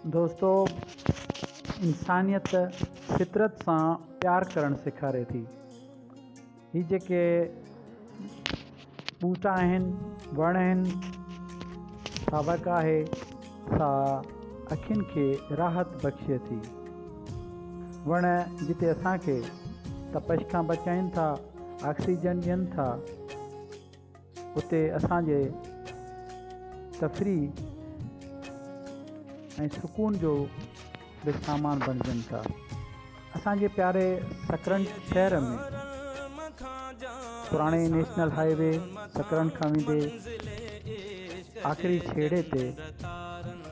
دوستو انسانيت فطرت سان پيار ڪرڻ سيکاري ٿي هي جيڪي ٻوٽا آهن وڻ آهن ساوڪ آهي سا اکين کي راحت بخشي ٿي وڻ جتي اسان کي تپش کان بچائين ٿا آڪسيجن ڏين ٿا اتي اسان جي تفريح ۽ سڪون جو به سامان بڻجن ٿا. اسان جي پياري سڪرنڊ شهر ۾ پراڻي نيشنل هاء وي سڪرنڊ کان ويندي آخري ڇيڙي تي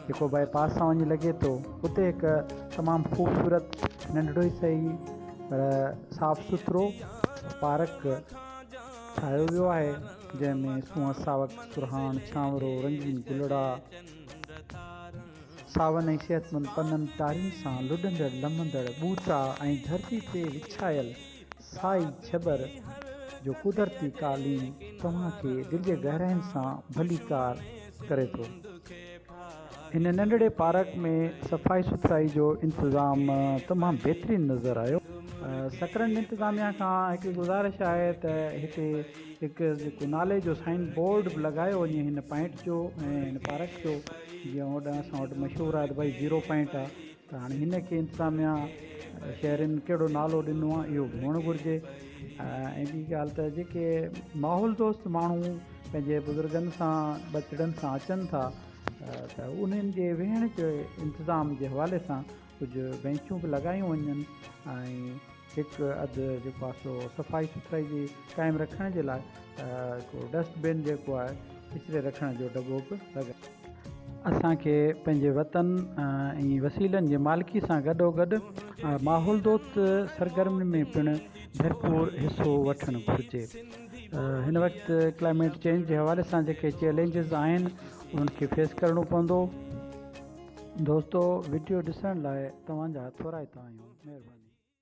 جيڪو باء پاس سان وڃي لڳي ٿو اتي هڪ تمام خوبصورت ننڍڙو ئي سهي پر صاف سٿرو پارڪ ٺاهيو ويو آهي، جنهن ۾ سونهن ساوڪ، سرهاڻ، سانورو، رنگين گلڙا، ساون ۽ صحتمند پنن ٽارين سان لڏندڙ لمندڙ ٻوٽا ۽ ڌرتي تي وڇايل سائي ڇٻر جو قدرتي قالين توهان کي دل جي گهراين سان ڀليڪار ڪري ٿو. هن ننڍڙي پارڪ ۾ صفائي سٿرائي جو انتظام تمام بهترين نظر آيو. سڪرنڊ انتظاميا کان هڪڙي گذارش آهي ته هتي هڪ جيڪو نالي جو سائين بورڊ به لڳايو وڃي هن پائنٽ جو ۽ هن پارڪ جو جيئن هوڏانهن اسان وٽ مشهور آهي ته ڀائي زيرو پائنٽ آهي ته هاڻي هن کي انتظاميا شهرين ڪهڙو نالو ڏنو آهي اهو به هئڻ گهرجي ۽ ٻي ڳالهه ته جيڪي ماحول دوست ماڻهو پنهنجي بزرگن سان ٻچڙن سان اچن ٿا ته انهن جي ويهڻ جي انتظام جي حوالي سان ڪجهه بينچون به لڳايون وڃن ۽ هڪ اڌ جو پاسو صفائي سٿرائي جي قائم رکڻ جي لاء هڪ ڊسٽ بن جيڪو آهي ڪچري رکڻ جو ڊٻو به لڳائي. اسان کي پنهنجي وطن ۽ وسيلن جي مالڪي سان گڏو گڏ ماحول دوست سرگرمين ۾ پڻ ڀرپور حصو وٺڻ گهرجي. هن وقت ڪلائميٽ چينج جي حوالي سان جيڪي چئلينجز آهن انهن کي فيس ڪرڻو پوندو. دوستو وڊيو ڏسڻ لاء توهان جا ٿورائتا آهيون. مهرباني.